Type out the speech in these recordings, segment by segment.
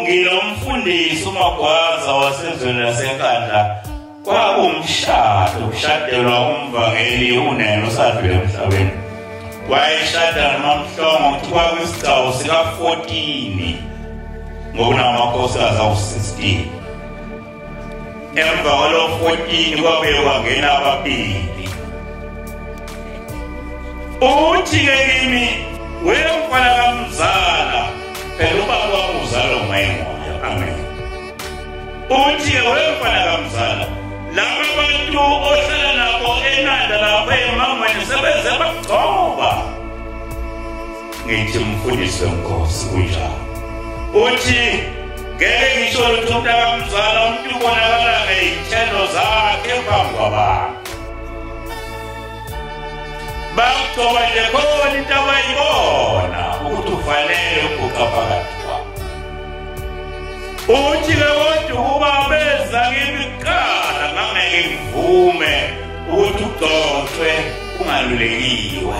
Ngilomfundisi uMagwaza wasezweni laseNkandla kwakumshado kushadelwa umvangeli unene usadlule emhlabeni wayeshada nomamhlongo kuthiwa kwisigcawu sika-14 ngokunamakhosikazi awu-16 emva kwalo 14 kwabuye kwangena ababili uthi ke kimi wena mfana kamzala phela ubaba wakho uzalwa ngumayemoya amen uthi ke wena mfana kamzala laba bantu ohlala nabo enanda lapho emangweni sebenze bagcoba ngithi mfundisi wenkosi kunjalo uthi ngeke ngisho lutho mntakamzala umuntu ubonakala ngey'thelo zakhe phambi kwabantu bakugcoba nje khona into abayibona ukuthi ufanele ukuguqa phakathi kwabo uthi ke kodwa ukuba beza kimi kuqala ngangeke ngivume ukuthi ugcotshwe ungalulekiwe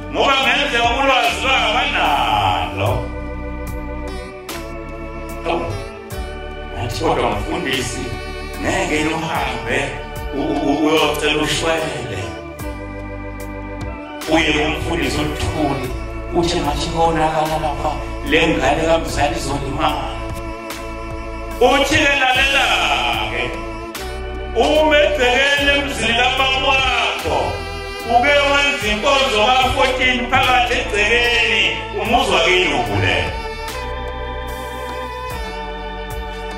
ngoba ngenzeka ulwazi lwabo banalo athi kodwa mfundisi ngeke luhambe uyocela ushwele uye kumfundisi oluthuli uthi ngathi konakala lapha le ngane kamzali izolimala uthi-ke lalela-ke uma ebhekene emzini kabakwakho Uke wenza inkonzo ka-14 phakathi egcekeni umuzwa kini ukhulele.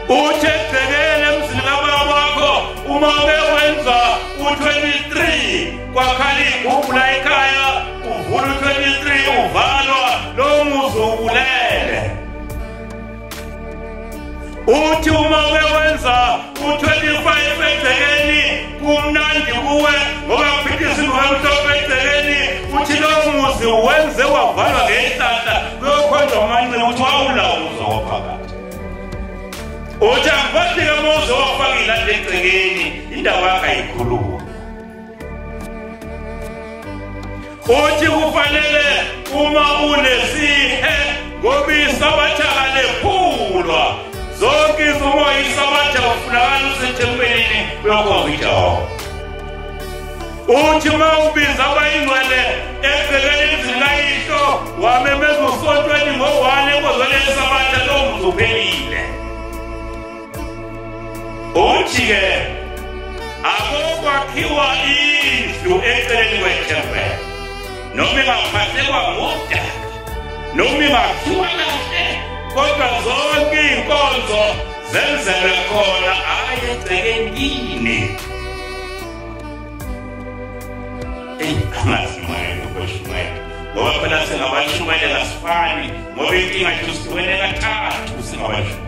Uthe egcekeni emzini kababa wakho uma uke wenza u-23 kwakhala igubhula ekhaya uvula u-23 uvalwa lowo muzwa ukulele. uthi uma uke wenza u-25 egcekeni kumnandi kuwe ngoba kuphithisa imhomhlophe egcekeni uthi lowo muzi wenze wavalwa ngenhlahla kuyokhonjwa umanci ukuthi wawulawo muzi waphakathi uthi angiphathike muzi wafakile ade egcekeni indawo yakhe ayikhulumi uthi kufanele uma unesihe ngoba isabatha kalephulwa zonke izinto isabatha kufunakala usethempelini uyokhonza ijehova uthi uma ubiza abayingcwele ebhekele izinayihlo wamemeza usontweni ngo-one ekozwele isabatha lowo mzi uphelile uthi-ke akokwakhiwa indlu eceleni kwethempela noma ingaphathekwa ngudaka noma ingakhiwa kahle kodwa zonke iy'nkonzo zenzelwe khona hhayi egcekeni yini eyi angazi moya nokweshumayela ngoba phela singabashumayela kasifani ngoba inkinga yethu sihlukene kathathu singabashumayela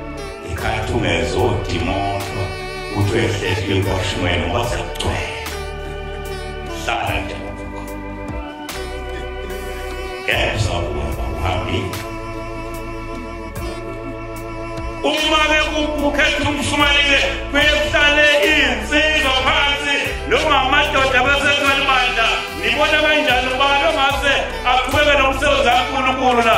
ikhathumeze odimontwa kuthi uyehlehla ikwashimweni ngoba sekugcwele hlala nje ngeke usabuya uhambile uma bekukhetha umshumayile kuyehlale iy'nsizwa phansi noma amadoda abasekhona bandla nibona kanjani ubani ongase aqhubeke nomsebenzi kankulunkulu la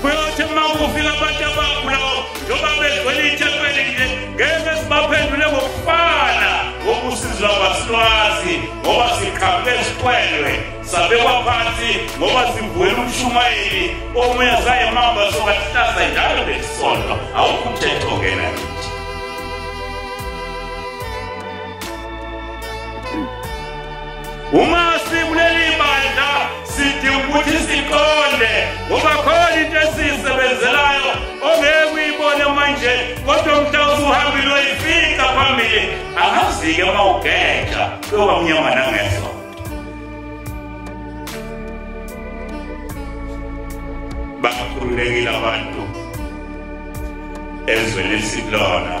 kuyothi uma kufika abantu abagulayo njengoba begcwele ithempeli nje ngeke sibaphendule ngokufana ngokusizwa kwasilwazi ngoba siqhamuke siqwelwe sabekwa phansi ngoba sivuwela umshumayeli omunye sayemamba sokahlasa njalo lesisonto awukho umthetho ngena Uma sikuleli bandla sidinga ukuthi siqonde ngoba khona into esiyisebenzelayo ongeke uyibone manje kodwa mhla usuhambile uyoyifika phambili angazike uma ugeja kuyoba mnyama nangeso bakhululekile abantu ezweni esikulona